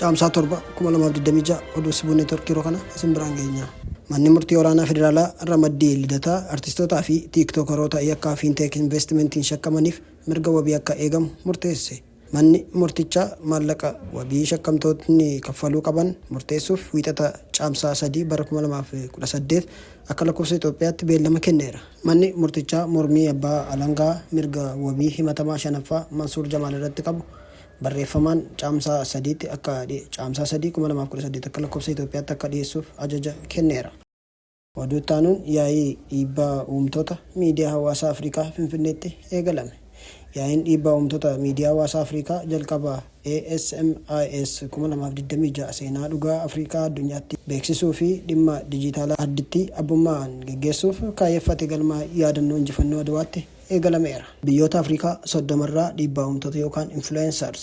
Caamsaa 7, 2026 oduu sibuu neetworkii yeroo kana isin biraan geenyaa. Manni murtii olaanaa federaalaa ramaddii lidataa artistootaa fi tiiktookaroota yakkaa fiinteek investimentiin shakkamaniif mirga wabii akka eegamu murteesse. Manni murtichaa maallaqa wabii shakkamtootni kaffaluu qaban murteessuuf Wiixata Caamsaa 3 bara 2018 akka lakkoofsa Itoophiyaatti beellama kenneera. Manni murtichaa mormii abbaa alangaa mirga wabii himatamaa 5ffaa Mansuur Jamaal irratti qabu barreeffamaan Caamsaa 3tti akka Caamsaa 3, 2018 akka lakkoofsa Itoophiyaatti akka dhiyeessuuf ajaja kenneera. Oduu itti aanuun yaa'ii dhiibbaa uumtoota miidiyaa hawaasaa Afrikaa Finfinneetti eegalame. Yaa'iin dhiibbaa uumtoota miidiyaa hawaasaa Afrikaa jalqaba ASMIS 2026 seenaa dhugaa Afrikaa addunyaatti beeksisuu fi dhimma dijiitaalaa arditti abbummaa'aan geggeessuuf kaayyeffate galma yaadannoo injifannoo Adwaatti eegalameera. Biyyoota Afrikaa 30 irraa dhiibbaa uumtoota yookaan influencers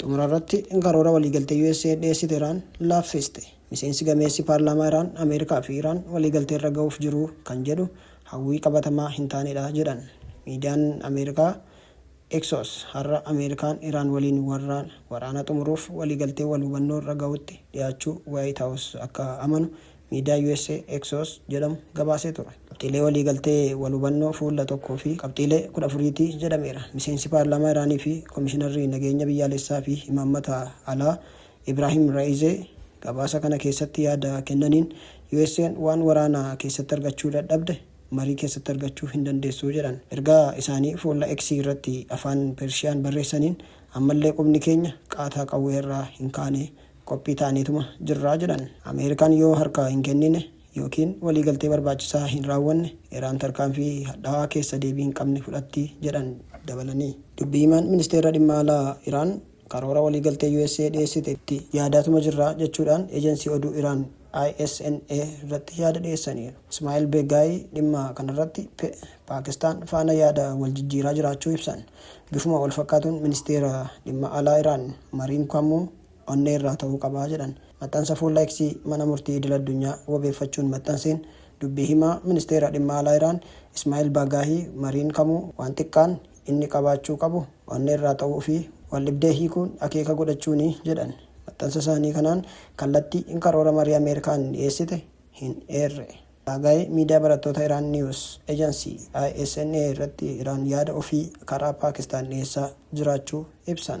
Xumura irratti karoora waliigaltee USA'n dhiyeessite Iraan laaffiste. Miseensi gameessi paarlaamaa Iraan Ameerikaa fi Iraan waliigalteerra gahuuf jiru kan jedhu hawwii qabatamaa hin taanedha jedhan. Miidiyaan Ameerikaa Exos har'a Ameerikaan Iraan waliin warraan waraana xumuruuf waliigaltee wal hubannoorra gahutti dhiyaachuu Waayit Haawus akka amanu miidiyaa usa Axios jedhamu gabaasee ture. Qabxiilee waliigaltee wal hubannoo fuula 1 fi qabxiilee 14 ti jedhameera. Miseensi paarlaamaa Iraanii fi komishinarri nageenya biyyaalessaa fi imaammata alaa Ibraahim Ra'izee gabaasa kana keessatti yaada kennaniin USAn waan waraana keessatti argachuu dadhabde marii keessatti argachuu hin dandeessu jedhan. Ergaa isaanii fuula X irratti afaan Pershiyaan barreessaniin ammallee qubni keenya qaataa qawwee irraa hin kaane qophii taaneetuma jirra jedhan. Ameerikaan yoo harkaa hin kennine ykn waliigaltee barbaachisaa hin raawwanne Iraan tarkaanfii hadhaawaa keessa deebii hin qabne fudhatti jedhan dabalanii. Dubbii himaan ministeera dhimma alaa Iraan karoora waliigaltee usa dhiyeessite itti yaadaatuma jirra jechuudhaan ejansii oduu Iraan ISNA irratti yaada dhiyeessaniiru. Ismaa'il Beegaayii dhimma kanarratti Paakistaan faana yaada wal jijjiiraa jiraachuu ibsan. Bifuma wal fakkaatuun ministeera dhimma alaa Iraan Mariin Kwammoo onnee irraa ta'uu qaba jedhan. Maxxansa fuula X Mana Murtii Idil Addunyaa wabeeffachuun maxxanseen, dubbii himaa Ministeera Dhimma Alaa Iraan Ismaa'il Baagaahii mariin kamuu waan xiqqaan inni qabaachuu qabu onnee irraa ta'uu fi waldhibdee hiikuun akeeka godhachuuni jedhan. Maxxansa isaanii kanaan kallattii in karoora marii Ameerikaan dhiyeessite hin eerre. Baagaahii miidiyaa barattoota Iraan News Agency, ISNA, irratti Iraan yaada ofii karaa Paakistaan dhiyeessaa jiraachuu ibsan.